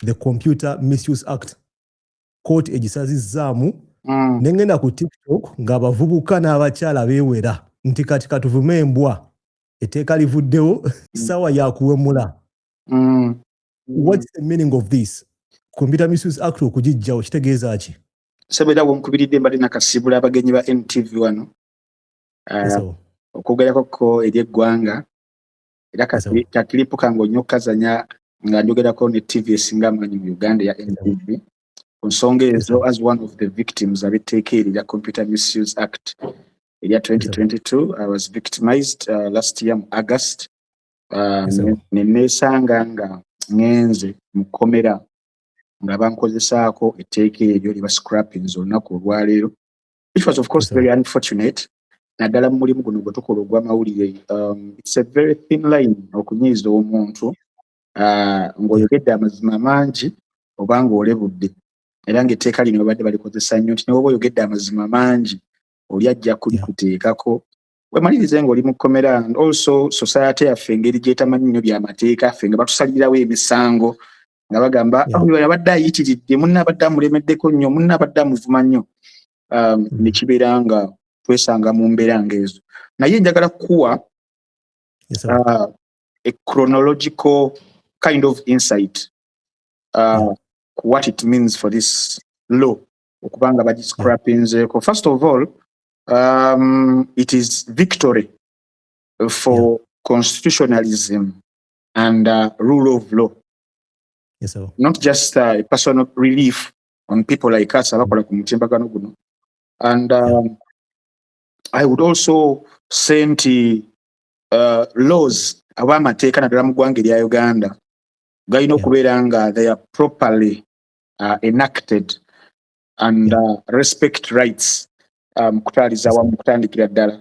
the computer misuse act kooti egisazizzaamu mm. ne ngenda ku tiktok ng'abavubuka n'abakyala beewera nti kati katuvume embwa etteeka livuddewo mm. ssaawa yakuwemula mm. whats the meaning of this computer misuse act okugijjawo kitegeeza ki sebeera wonkubiridde mbadde nakasibula abagenyi ba ntv wano ah, okwogerako ko eri eggwanga era kakilipu kange nnyo kazanya nga njogerako ne tv esinga amaanyi mu uganda ya ntv ku nsonga ezo as one of the victims abetteeka eri lya computer misuse act erya 2022 i was victimized uh, last year mu august uh, neneesanga nga ngenze mu kkomera nga bankozesaako etteeka eryo lye bascrappings olunaku olwaleero which was of course very unfortunate naddala mu mulimu guno gwe tukola ogw'amawulire um, it's a very thin line okunyiiza omuntu uh, ng'oyogedde amazima mangi oba ng'olebudde era ng'etteeka lino babadde balikozesa nnyo nti newoba oyogedde amazima mangi oli ajja kulikuteekako wemalirize ng'oli mu kkomera and also society yaffe engeri gyetamanyi nnyo byamateeka ffe nga batusalirirawo emisango nga bagamba oyo abadde ayitiridde munna abadde amulemeddeko nnyo munna abadde amuvuma nnyo um, hmm. nekibeera nga twesanga mu mbeera nga ezo naye njagala kukuwa uh, a chronological kind of insight uh, ku what it means for this law okuba nga bagiscrapinzeeko first of all um, it is victory for yeah. constitutionalism and uh, rule of law. Yes, sir. Not just uh, personal relief on people like us abakola ku mutimbagano guno and um, I would also say nti uh, laws aba amateeka naddala mu ggwanga erya Uganda galina okubeera nga they are properly uh, enacted and uh, respect rights um, kutwaliza wamu kutandikira ddala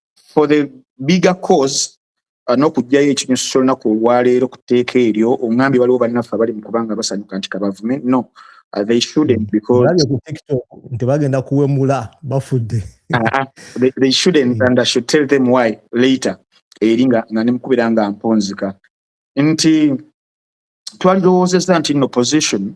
for the bigger cause uh, n'okugyayo ekinyusi ky'olunaku olwaleero ku tteeka eryo ongambye waliwo bannaffe abali mu kubanga basanyuka nti kabavume no uh, they shouldn't mm. because nti bagenda kuwemula bafudde uh-huh. they shouldn't mm. and i should tell them why later eri nga nga nemukubira nga mponzika nti twalirowoozeza nti no position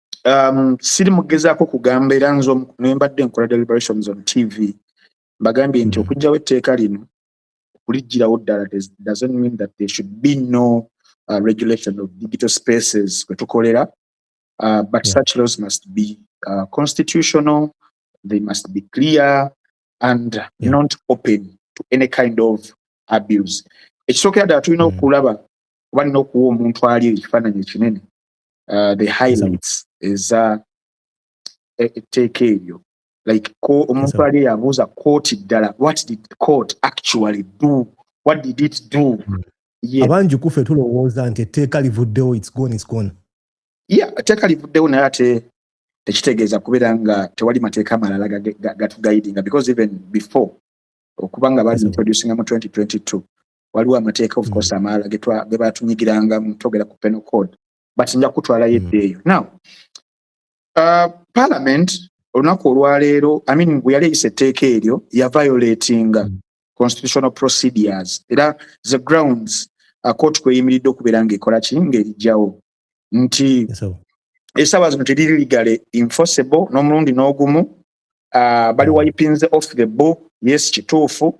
um, siri mugezaako kugamba era nze nembadde nkola deliberations on tv mbagambye nti hmm. okugjawo etteeka lino okulijjirawo ddala doesn't mean that there should be no uh, regulation of digital spaces kwe tukolera uh, but yeah. such laws must be uh, constitutional they must be clear and yeah. not open to any kind of abuse ekisookera ddala tulina hmm. okulaba oba nina okuwa omuntu ali ekifaananyi ekinene uh, the highlights eza e, etteeka eryo like ko omuntu ali yabuuza kooti ddala what did court actually do what did it do hmm. abangi kufe tulowooza nti etteeka livuddewo its gone its gone yeah etteeka livuddewo naye ate tekitegeeza kubeera nga tewali mateeka amalala gatugaidinga because even before okubanga bali introducinga mu 2022 waliwo amateeka of mm. course amalala ge batunyigiranga mutogera ku penal code but nja kutwalayo mm. edda eyo now uh, parliament olunaku olwaleero i mean bwe yali eyisa etteeka eryo ya violatinga mm. constitutional procedures era the grounds uh, court kweyimiridde okubeera ngaekola ki ngaerijjawo nti esaba zino teriri ligale enforceable n'omulundi n'ogumu uh, bali wipinze off the book yes kituufu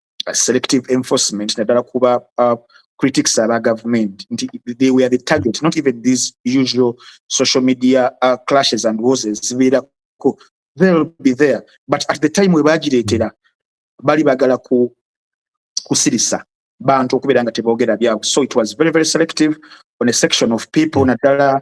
uh, selective enforcement naddala kuba uh, critics aba government nti they were the target not even these usual social media uh, clashes and wars ezibeerako they'll be there but at the time we bagireetera bali bagala ku kusirisa bantu okubeera nga teboogera byabwe so it was very very selective on a section of people naddala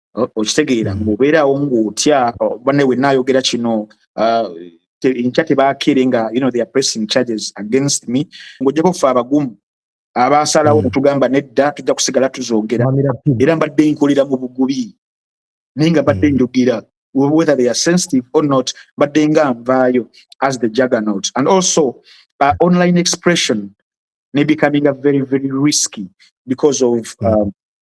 okitegeera mm. mubeerawo ngaotya bane wenna ayogera kino uh, enkya tebakeere nga you know, they are pressing charges against me ngaojjako ffe abagumu abaasalawo mm. netugamba nedda tujja kusigala tuzoogera era mbadde nkolera mu bugubi naye nga mbadde mm. njogera whether they are sensitive or not mbadde nga nvaayo as the juggernaut and also uh, online expression ne becoming a very very risky because of mm. um,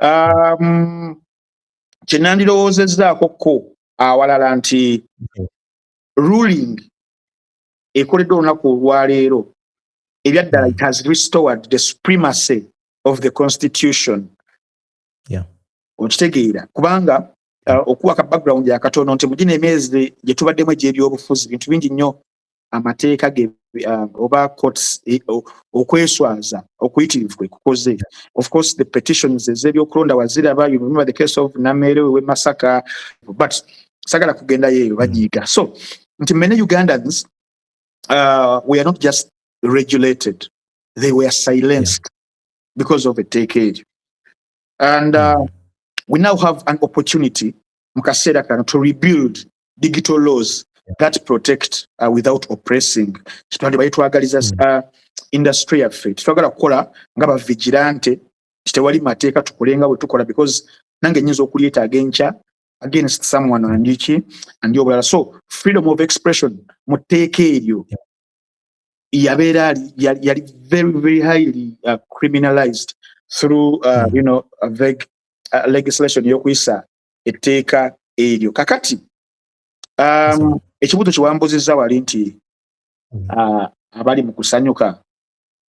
um, kyenandirowoozezzaako ko awalala nti ruling ekoleddwa olunaku olwaleero ebyaddala it has restored the supremacy of the constitution okitegeera kubanga uh, okuwa ka background yakatono nti mugino emyezi gyetubaddemu egyebyobufuzi bintu bingi nnyo amateeka ge uh, oba courts e, okweswaza okuyitirivu kwe kukoze of course the petitions ez'ebyokulonda waziraba you remember the case of nameere we masaka but sagala kugendayo eyo bagiyiga so nti many ugandans uh, we are not just regulated they were silenced yeah. because of a decade and uh, mm. we now have an opportunity mu kaseera kano to rebuild digital laws that protect uh, without oppressing kitwandibwa yetwagaliza mm. uh, industry yaffe tetwagala kukola nga bavigirante tewali mateeka tukole nga bwe tukola because nange nyinza okulyetaaga enkya against someone andiki andi obulala so freedom of expression mu tteeka eryo yabeera yali very very highly uh, criminalized through uh, mm. you know, a vague uh, legislation eyokuyisa etteeka eryo kakati um, ekibuuzo kiwambuzizza wali nti mm. uh, abali mu kusanyuka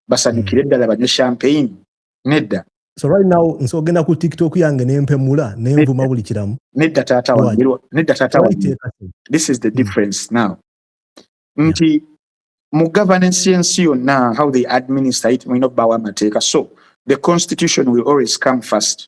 basanyukire mm. ddala banywe champagne nedda so right now nso ogenda ku tiktok yange nempemula nenvuma buli kiramu nedda taata wange nedda taata wange this is the hmm. difference mm. now nti yeah. mu governance yensi yonna how they administer it mulina obbawo amateeka so the constitution will always come first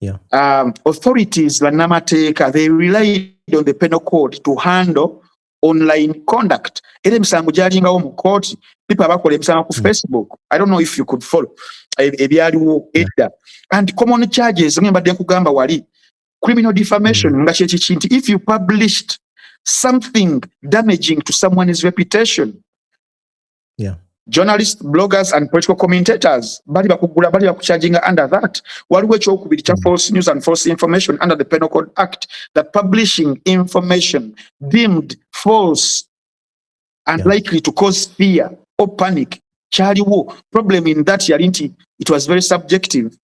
Yeah. Um, authorities bannamateeka they relied on the penal code to handle online conduct era emisango gyalingawo mu kooti pipa bakola emisango ku hmm. facebook i don't know if you could follow e, ebyaliwo edda and common charges nga mbadde nkugamba wali criminal defamation hmm. nga kyekiki nti if you published something damaging to someone's reputation yeah. journalist bloggers and political commentators bali bakugula bali bakucharginga under that waliwo ekyokubiri kya false news and false information under the penal code act that publishing information deemed false and yeah. likely to cause fear or panic kyaliwo problem in that yali nti it was very subjective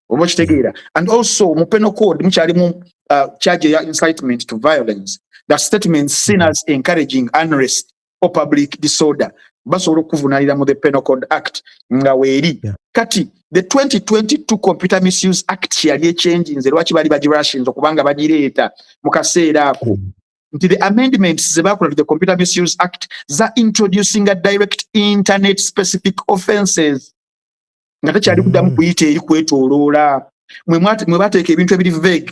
oba okitegeera and also mu penal code mukyalimu uh, charge ya incitement to violence the statement seen as encouraging unrest or public disorder basobola okukuvunalira mu the penal code act nga weeri yeah. kati the 2022 computer misuse act yali ekyenjinze lwaki bali bagirashinze okubanga bagireeta mu kaseera ako mm. nti the amendments zebakola to the computer misuse act za introducing a direct internet specific offenses nga tekyali kuddamu mm. kuyita eri kwetoloola mwe bateeka ebintu ebiri vague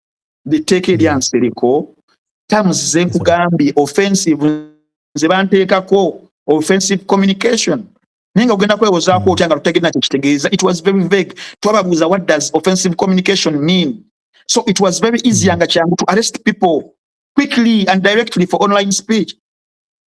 etteeka erya nsereko terms zenkugambye offensive nze banteekako offensive communication naye nga ogenda kwewozaako otya nga tutegere nakyo kitegeeza it was very vague twababuuza what does offensive communication mean so it was very easy nga kyangu to arrest people quickly and directly for online speech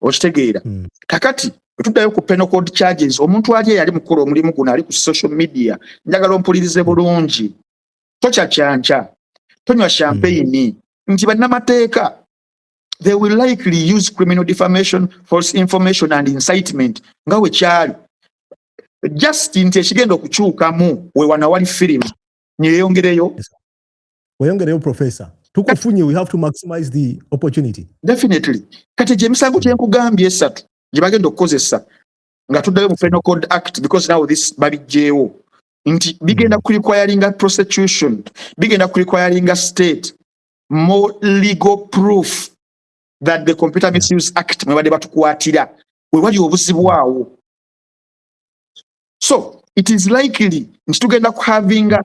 okitegeera mm. kakati tuddayo ku penal code charges omuntu ali eyali mukola omulimu guno ali ku social media njagala ompulirize bulungi tokya kyankya tonywa champagne mm. nti bannamateeka they will likely use criminal defamation false information and incitement nga wekyali just nti ekigenda okukyukamu wewana wali firimu neyeyongereyo weyongereyo professor tukufunye we have to maximize the opportunity definitely kati gye misango hmm. kyenkugambye esatu gye bagenda okukozesa nga tuddayo mu penal code act because now this babijjeewo nti bigenda hmm. kurequiringa prosecution bigenda kurequiringa state more legal proof that the computer misuse act mwebadde batukwatira wewali obuzibu awo so it is likely nti tugenda kuhavinga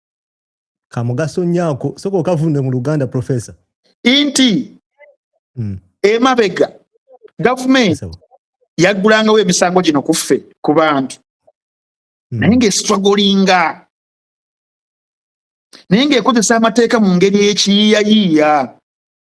kamugaso nnyo ako soka okavunde mu luganda professor inti mm. emabega gavumenti yaggulangawo emisango gino ku ffe ku bantu mm. naye ngaesitwagolinga naye ngaekozesa amateeka mu ngeri ekiyiyayiiya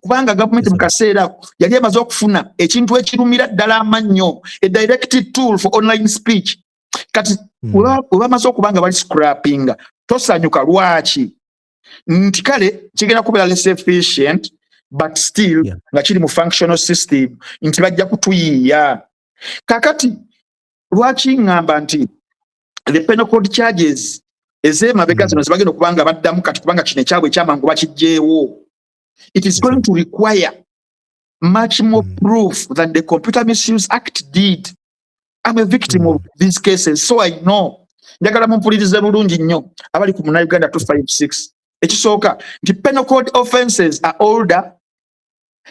kubanga gavumenti mukaseera ako yali emaze okufuna ekintu ekirumira ddala amannyo a direct tool for online speech kati hmm. webamaze okuba nga bali scrappinga tosanyuka lwaki nti kale kigenda kubeera less efficient but still nga kiri mu functional system nti bajja kutuyiiya kakati lwaki ngamba nti the penal code charges ezemabega hmm. zino zibagenda okubanga baddamu kati kubanga kino ekyabwe ekyamangu bakijjeewo It is going to require much more mm. proof than the Computer Misuse Act did. I'm a victim mm. of hmm. these cases, so I know. njagala mumpulirize bulungi nnyo abali ku muna uganda 256 ekisooka nti penal code offenses are older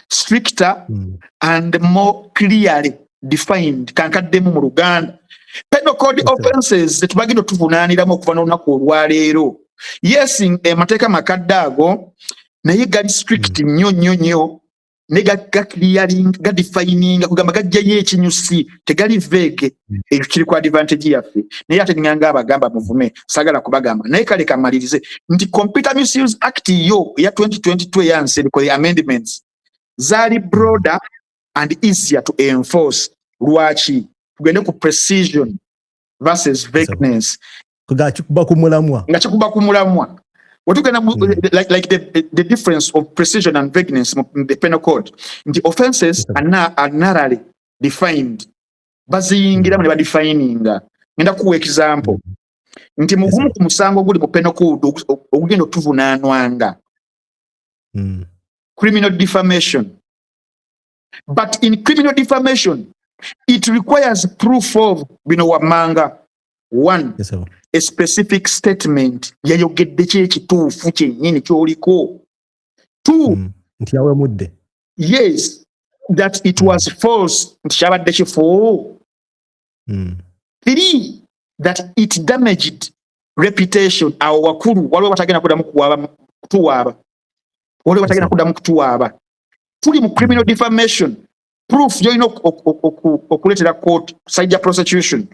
stricter mm. and more clearly defined kankaddemu mu luganda penal code okay. offenses zetubagenda otuvunaaniramu okuva n'olunaku olwaleero yes amateeka eh, makadde ago naye gali strict hmm. nnyo nnyo nnyo ne gaclearing gadefininga kugamba gajjayo ekinyusi tegali vege hmm. ekyo kiri ku advantage yaffe naye ate ninganga abagamba muvume sagala kubagamba naye kale kamalirize nti computer misuse act yo eya 2022 eyanseriko the amendments zaali broader and easier to enforce lwaki tugende ku precision versus vagueness nga kikuba ku mulamwa nga kikuba ku mulamwa wetugenda mm. like, like the, the difference of precision and vagueness in the penal code nti offenses are, na, are narrowly defined baziyingiramu ne badefininga ngenda kuwa example mm. nti mugumu ku musango oguli mu penal code ogugenda okutuvunaanwanga mm. criminal defamation but in criminal defamation it requires proof of bino wammanga one yes, a specific statement yayogedde ki ekituufu kyennyini kyoliko two mm. nti yawemudde yes that it mm. was false nti kyabadde kifu mm. three that it damaged reputation awo wakulu waliwo batagenda kudamu kuwaaba kutuwaaba waliwo batagenda kudamu kutuwaaba tuli mu criminal defamation proof gyolina okuleetera court side ya prosecution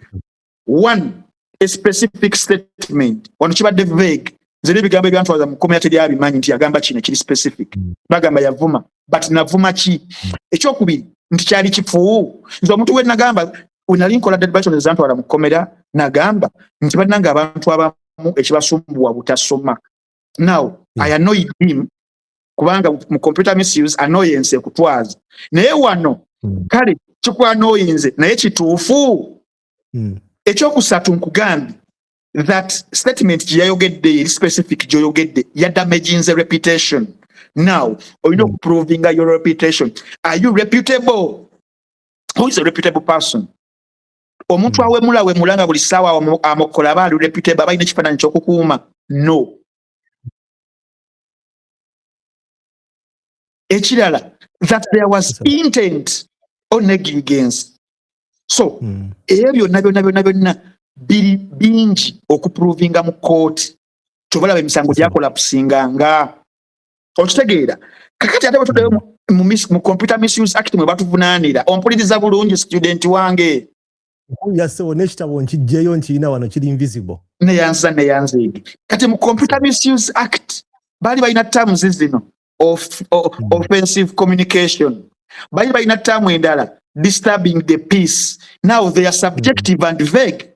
one a specific statement wano kibadde vague nze nebigambo ebyantwaza mukomera teri abimanyi nti yagamba kino kiri specific hmm. bagamba yavuma but navuma ki hmm. ekyokubiri nti kyali kifu nze omuntu we nagamba wenali nkola debation ezantwala mukomera nagamba nti bananga abantu abamu ekibasumbuwa butasoma now hmm. i annoyed him kubanga mu computer misuse annoyance ekutwaza naye wano hmm. kale kikwanoyinze naye kituufu hmm. ekyokusatu nkugambye that statement gyeyayogedde eri specific gyoyogedde yadamaginze reputation now olina hmm. okuprovinga your reputation are you reputable who is a reputable person omuntu awemula wemula nga buli saawa amokola aba ali reputable aba alina ekifaananyi kyokukuuma no ekirala that there was intent or negligence so hmm. ebyo byonna byonna byonna byonna biri bingi okuprovinga mu kooti kyobalaba emisango gyakola kusinga nga okitegeera kakati ate bwetudayo mu computer misuse act mwe batuvunaanira ompuliriza bulungi student wange yasewo n'ekitabo nkijjeyo nkirina wano kiri invisible neyanza neyanziigi kati mu computer misuse act baali balina terms zino of, of, hmm. offensive communication baali balina term endala disturbing the peace now they are subjective and vague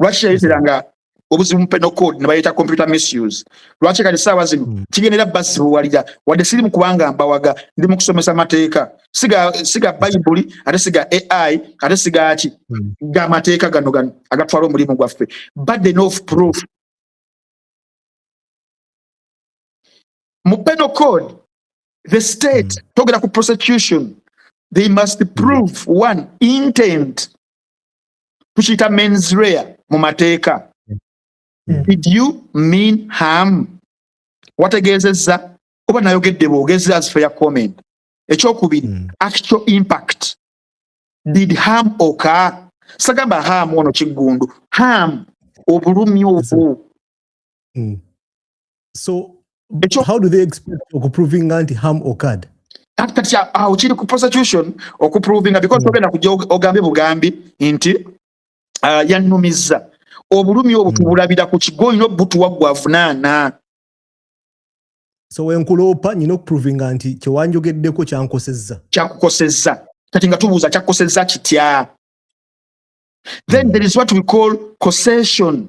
lwaki yayeteranga obuzibu mupeno code nebayeta computer misuse lwaki kati saawa zino hmm. kigendera basibuwalira wadde siri mukubanga mbawaga ndi mukusomesa mateeka siga siga bayibuli ate siga ai ate sigaki hmm. ga mateeka gano gano agatwala omulimu gwaffe burden of proof mupeno code the state hmm. togera ku prosecution they must prove one intent tukiyita mens rea mu mateeka hmm. did you mean ham wategeezezza oba nayogedde bwogezi as fair comment ekyokubiri hmm. actual impact did ham oka sagamba ham ono kiggundu ham obulumi obwo mm. so Echo. how do they expect okuproving anti harm occurred kati kati awo kiri ku prosecution okuprovinga because hmm. togenda kujja ogambe bugambi nti uh, yannumiza obulumi obwo hmm. tubulabira ku kigo olina obutuwa gwavunaana so wenkuloopa nyina okuprovinga nti kyewanjogeddeko kyankosezza kyakukosezza kati nga tubuuza kyakukosezza kitya then hmm. there is what we call cosession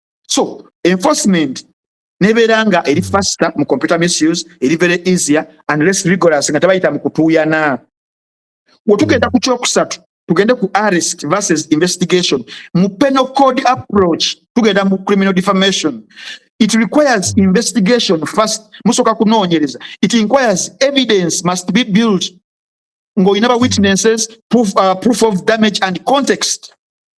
so enforcement nebeera nga eri faster mu computer misuse eri very easier and less rigorous nga tebayita mu kutuuyana wetugenda ku kyokusatu tugende ku arrest versus investigation mu penal code approach tugenda mu criminal defamation it requires investigation first musoka kunoonyereza it inquires evidence must be built ng'olina ba witnesses proof, uh, proof of damage and context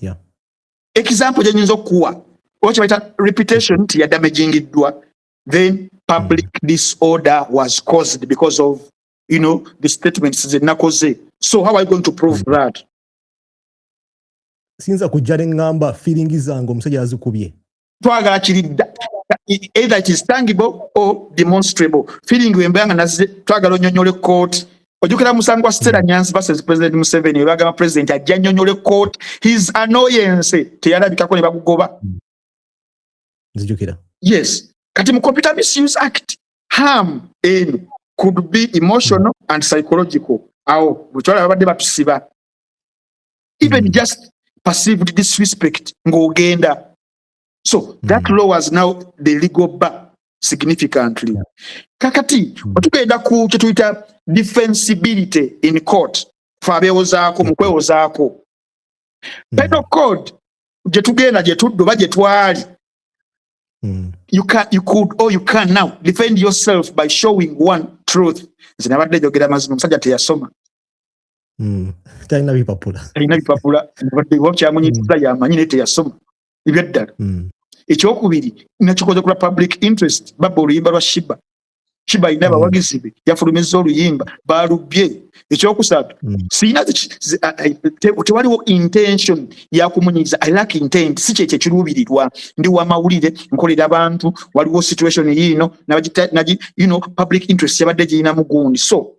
yeah. example gyenyinza okukuwa oba kyebayita reputation nti yadamagingiddwa then public mm. disorder was caused because of you know the statements zenakoze so how are you going to prove mm. that siyinza kujja ne ŋŋamba fiiringi zange omusajja azikubye twagala kiridda either it is tangible or demonstrable feeling wemba nga naze twagala onyonyole kooti ojukira musango wa stera nyanzi versus president museveni webagamba president ajja nyonyole kooti his annoyance teyalabikako ne bagugoba hmm. nzijukira yes kati mu computer misuse act harm eno could be emotional and psychological awo bwekyala babadde batusiba even mm. just perceived disrespect ng'ogenda so that mm. lowers now the legal bar significantly yeah. kakati mm. otugenda ku kyetuyita defensibility in court fe abewozaako mu kwewozaako mm. penal code gyetugenda gyetudda oba gyetwali mm. you, can, you could or you can now defend yourself by showing one truth nze nabadde njogera mazima omusajja teyasoma hmm. talina bipapula talina bipapula wabaddewa kyamunyitiza hmm. yamanyi naye teyasoma ebyaddala hmm. ekyokubiri nakikoze kula public interest baba oluyimba lwa shiba shiba alina abawagizi be yafulumizza oluyimba balubye ekyokusatu siyina tewaliwo intention yakumunyiza i lack intent si kyekyo ekiruubirirwa ndi wamawulire nkolera abantu waliwo situation yiino public interest yabadde girina mugundi so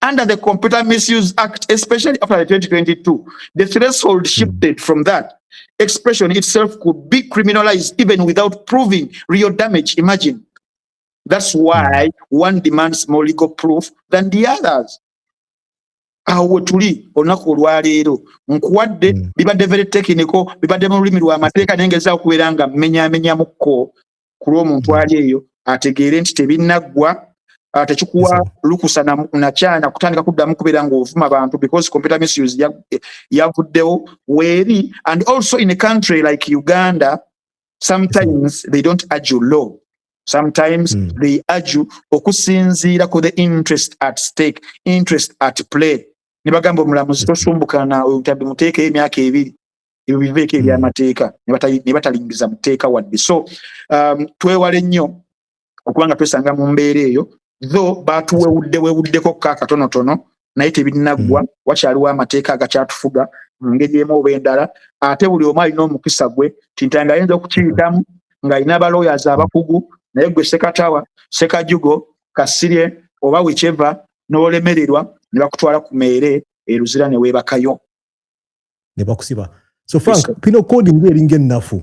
under the Computer Misuse Act, especially after the 2022, the threshold hmm. shifted from that. Expression itself could be criminalized even without proving real damage. Imagine. That's hmm. why one demands more legal proof than the others. awo wetuli olunaku olwaleero nkuwadde hmm. bibadde very technical bibadde mu lulimi lw'amateeka naye ngezaako okubeera nga mmenyamenyamukko ku lw'omuntu mm. ali eyo ategeere nti tebinaggwa ah, tekikuwa lukusa nakyana kutandika kuddamu kubeera ngaovuma bantu because computer misuse eh, yavuddewo weeri and also in a country like uganda sometimes they don't argue law sometimes mm. they argue okusinziira ku the interest at stake interest at play ne bagamba omulamuzi mm. tosumbukana oyo mutabbi muteekeyo emyaka ebiri ebyo biveeko hmm. ebyamateeka ne batalingiza mu tteeka wadde so um, twewale nnyo okuba nga twesanga mu mbeera eyo tho batuwewudde wewuddeko ka katonotono naye tebinaggwa hmm. wakyaliwo amateeka agakyatufuga mu ngeri emu oba endala ate buli omu alina omukisa gwe tintanga ayinza okukiyitamu ng'alina abalooyazi abakugu naye gwe sekatawa sekajugo kasirye oba wicheva n'olemererwa ne bakutwala ku meere eruzira ne weebakayo ne bakusiba so frank pino code ngu eringa ennafu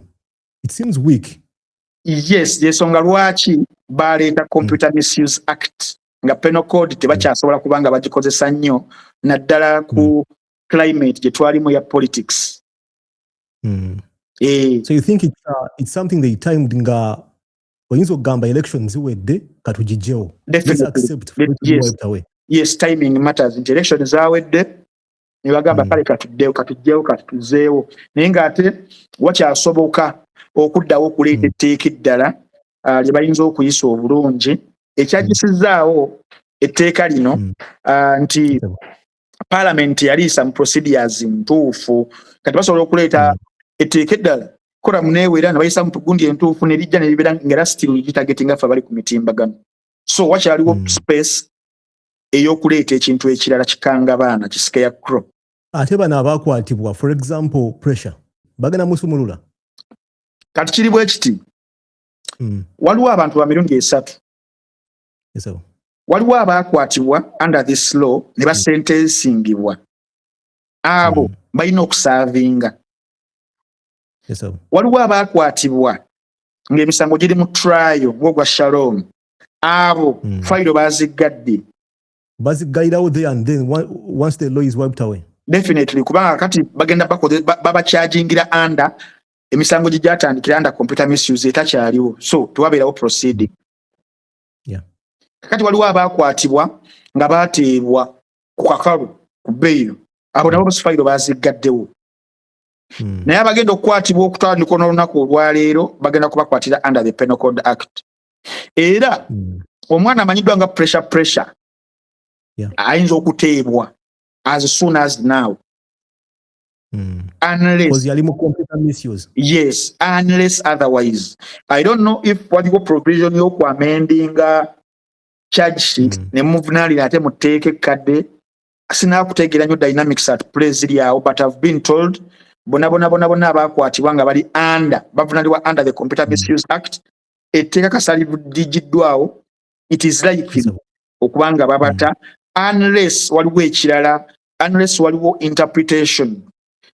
it seems weak yes yesonga lwaki baleeta computer mm. misuse act nga pino code tebakyasobola mm. kubanga bagikozesa nnyo naddala ku mm. climate gye twalimu ya politics mm. eh. so you think it's, uh, it's something they timed nga oyinza okugamba election ziwedde katugijjewo yes timing matters nti election zawedde ne bagamba mm. kale katuddewo katujjewo katuzeewo naye ng'ate wakyasoboka okuddawo okuleeta mm. etteeka eddala uh, lye bayinza okuyisa obulungi ekyagisizzaawo etteeka lino mm. uh, nti palamenti yaliisa mu procedures ntuufu kati basobola okuleeta etteeka eddala kola munewera ne bayisa mutugundi entuufu ne lijja ne libeera ngera sitiru ligitagetinga ffe abali ku mitimbagano so wakyaliwo mm. space eyokuleeta ekintu ekirala kikanga baana kisike ya cro ate bano abakwatibwa for example pressure bagenda musumulula kati kiri bwe kiti mm. waliwo abantu ba mirundi esatu yes, waliwo abaakwatibwa under this law ne basentensingibwa mm. abo mm. balina okusaavinga yes, waliwo abaakwatibwa ng'emisango giri mu trial ng'ogwa shalom abo mm. fayiro baziggadde baziggalirawo there and then once the law is wiped away definitely kubanga kati bagenda babakyajingira baba under emisango gye gyatandikira under computer misuse etakyaliwo so tewabeerawo proceeding yeah. kakati waliwo abaakwatibwa nga bateebwa ku kakalu ku beyiro abo nabo basifayiro baziggaddewo hmm. naye abagenda okukwatibwa okutwala mikono olunaku olwaleero bagenda kubakwatira under the penal code act era mm. omwana amanyiddwa nga pressure pressure yeah. ayinza okuteebwa as soon as now mm. unless yali mu computer misuse yes unless otherwise i don't know if waliwo provision yoku amendinga charge sheet mm. ne muvunalira ate muteeka ekkadde sinakutegeera nyo dynamics at play ziri awo but ihave been told bona bona bona bona abakwatibwa nga bali under bavunalibwa under the computer mm. misuse act etteeka kasalidigiddwawo it is likely okuba nga babata unless waliwo ekirala unless waliwo interpretation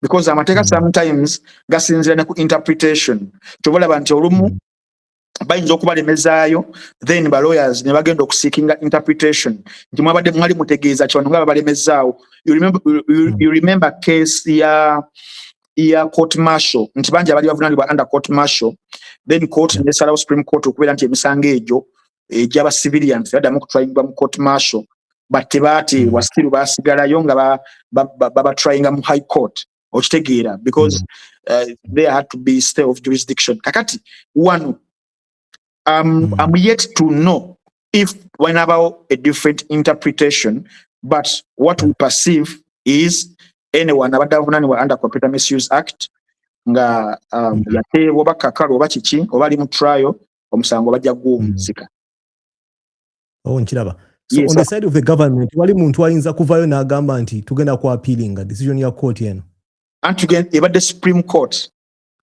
because amateeka mm. sometimes gasinzira ne ku interpretation kyoba olaba nti olumu mm. bayinza okubalemezaayo then ba lawyers ne bagenda okuseekinga interpretation nti mwabadde mwali mutegeeza kibano nga babalemezaawo you remember, you, mm. you remember case ya ya court martial nti bangi abali bavunanibwa under court martial then court yeah. nesalawo supreme court okubeera nti emisango egyo egyaba eh, civilian tebaddamu okutwayingibwa mu court martial but tebaati mm. wasiru basigalayo nga babatwayinga mu high court okitegeera because mm. uh, there had to be stay of jurisdiction kakati wano um, mm. I'm yet to know if when about a different interpretation, but what we perceive is anyone abadde avunaanibwa under computer misuse act nga um, mm. yateebwa oba kakalu oba kiki oba ali mu trial omusango bajja guwumuzika mm. oh, nkiraba so yes, on the side of the government wali muntu ayinza kuvaayo n'agamba nti tugenda ku appealinga decision ya court eno anti ebadde supreme court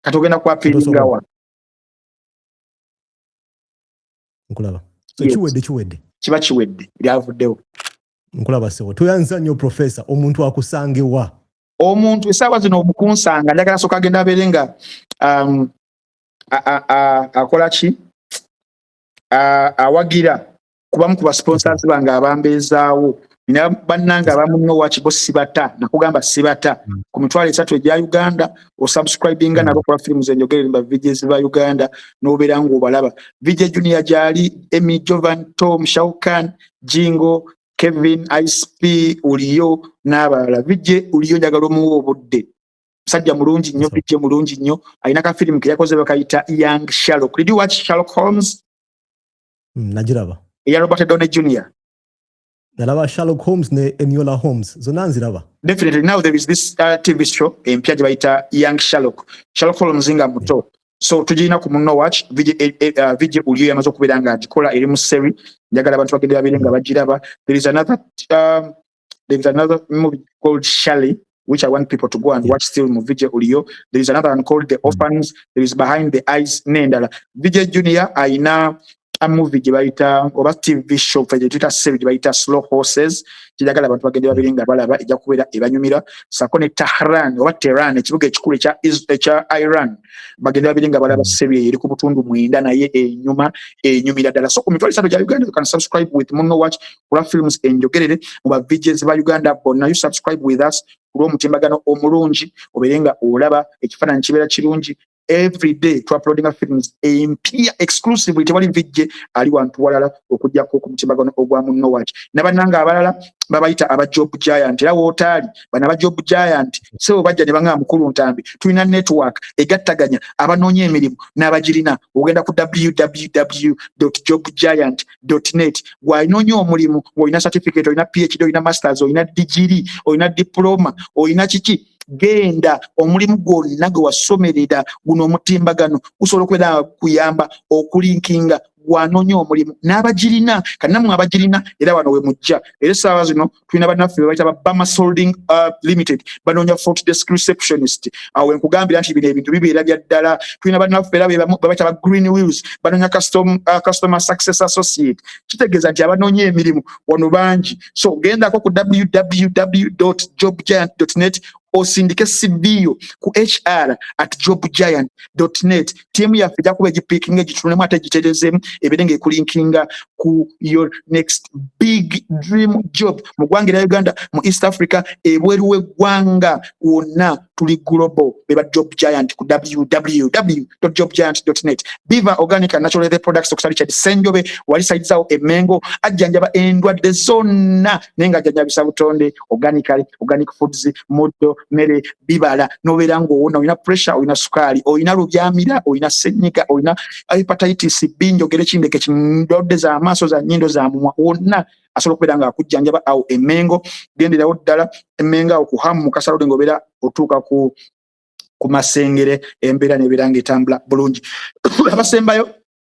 kati ogenda ku appealingawa nkulaba kiwedde kiwedde kiba kiwedde byavuddewo nkulaba sebo tuyanza nnyo profesa omuntu akusangewa omuntu esaawa zino okunsanga njagala soka agenda abeere nga um, akola ki awagira kubamu ku basponsors bange abambeezaawo nina bannange abamu nno wakibo sibata nakugamba sibata mm. ku mitwalo esatu egya uganda osubscribinga mm. nabo kuba firimu zenjogerere mba vidies ba uganda nobeera ngaobalaba vidio junior gyali emy jovan tom shaukan jingo kevin icp uliyo n'abalala vidio uliyo njagala omuwa obudde musajja mulungi nnyo vidio mulungi nnyo alina kafirimu keyakoze bakayita young shalok did you watch shalok holmes mm, nagiraba eya robert done junior nalaba sherlock holmes ne eniola holmes zonna nziraba definitely now there is this uh, tv show empya gye bayita young sherlock sherlock holmes nga muto yeah. so tugirina ku munno watch vigi eh, eh, uh, vigi uliyo yamaze okubeera nga agikola eri mu seri njagala abantu bagende babere nga bagiraba there is another um, There is another movie called Shelley, which I want people to go and watch still mu VJ Ulio. There is another one called The mm. Orphans. There is Behind the Eyes Nendala. VJ Junior aina a movie gye bayita oba TV show fe gye tuyita series gye bayita Slow Horses kijagala abantu bagende babiri nga balaba ejja kubeera ebanyumira sako ne Tehran oba Tehran ekibuga ekikulu ekya ekya Iran bagende babiri nga balaba mm. series eri ku butundu mwenda naye enyuma enyumira ddala so ku mitwalo esatu gya Uganda you can subscribe with Muno Watch kula films enjogerere mu ba VJs ba Uganda bonna you subscribe with us kulwa omutimbagano omulungi obeere nga olaba ekifaananyi kibeera kirungi every day to uploading films empia exclusively tewali VJ ali wantu walala okujjako ku mutimbagano ogwa munno waki nabananga abalala babayita aba job giant era wotaali bana ba job giant sebo bajja ne bangamba mukulu ntambi tulina network egattaganya abanoonya emirimu n'abagirina ogenda ku www jobgiant net gwalina onyo omulimu olina certificate olina phd olina masters olina digiri olina diploma olina kiki genda omulimu gwonna gwe wasomerera guno omutimbagano gusobola okubeera kuyamba okulinkinga gwanonya omulimu n'abagirina kanamwe abagirina era wano we mujja era essaawa zino tulina banaffe bebayita ba bama solding uh, limited banoonya fort desk receptionist awo enkugambira nti bino ebintu bibeera bya ddala tulina banaffe era bebayita ba green wheels banoonya custom, uh, customer success associate kitegeeza nti abanoonya emirimu wano bangi so gendako ku www jobgiant net osindike sibiyo ku hr at jobgiant net tiimu yaffe ejja kuba egipiikinga egitunulemu ate egiterezeemu ebeere ng'ekulinkinga ku your next big dream job mu ggwanga erya uganda mu east africa ebweru w'eggwanga wonna tuli global be ba job giant ku www job giant net biva organic and natural leather products okusa richard senjobe wali sayidizawo emengo ajjanjaba endwadde zonna naye nga ajjanjabisa butonde organically organic foods muddo mere bibala nobeera ngaowona olina pressure olina sukaali olina lubyamira olina senyiga olina hepatitis b njogere kindeke kindodde zamaaso za nyindo za mumwa wonna asobola okubeera nga akujjanjaba awo emengo genderawo ddala emengo awo kuhamu mukasalode nga obeera otuuka ku ku masengere embeera nebeera nga etambula bulungi abasembayo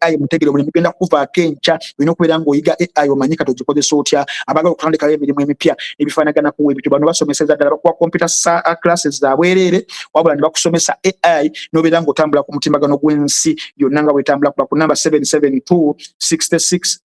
ai mutegere omulimu genda kukuvaako enkya olina okubeera ngaoyiga ai omanyi kati ogikozesa otya abagala okutandikayo emirimu emipya ebifanagana kuwa ebityo bano basomeseza ddala bakuwa computer uh, classes zabwereere wabula ne bakusomesa ai nobeera ngaotambula ku mutimbagano gw'ensi yonna nga bwetambula kuba ku namba 772 66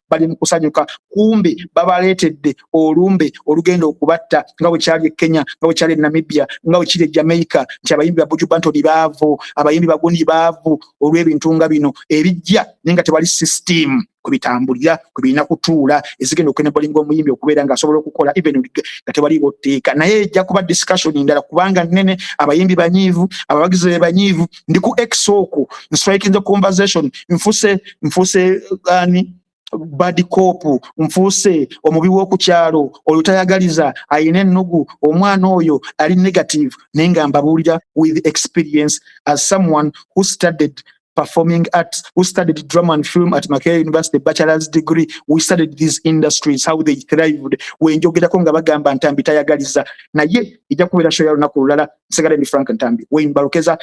bali mu kusanyuka kumbe babaleetedde olumbe olugenda okubatta nga bwe kyali e kenya nga bwe kyali e namibia nga bwe kiri e jamaica nti abayimbi ba buju bantoni baavu abayimbi baguni baavu olw'ebintu nga bino ebijja naye nga tewali sisitiimu kwebitambulira kwebirina kutuula ezigenda okugenda bolinga omuyimbi okubeera nga asobola okukola even nga tewaliwo tteeka naye ejja kuba discussion ndala kubanga nene abayimbi banyiivu abawagizi be banyiivu ndi ku x oku nswaikinze conversation nfuse nfuse ani uh, bad cop nfuuse omubi w'okukyalo oyo tayagaliza ayina ennugu omwana oyo ali negative naye nga mbabuulira with experience as someone who studied performing arts who studied drama and film at Makerere University bachelor's degree we studied these industries how they thrived wenjogerako nga bagamba ntambi tayagaliza naye ejja kubeera show ya lunaku lulala nsigale ndi frank ntambi wayne balukeza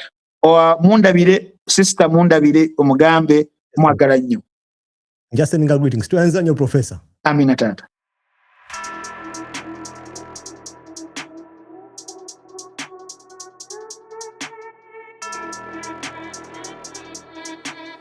mundabire sister mundabire omugambe mwagala nnyo njaseninga greetings tuyanza nnyo professor amina taata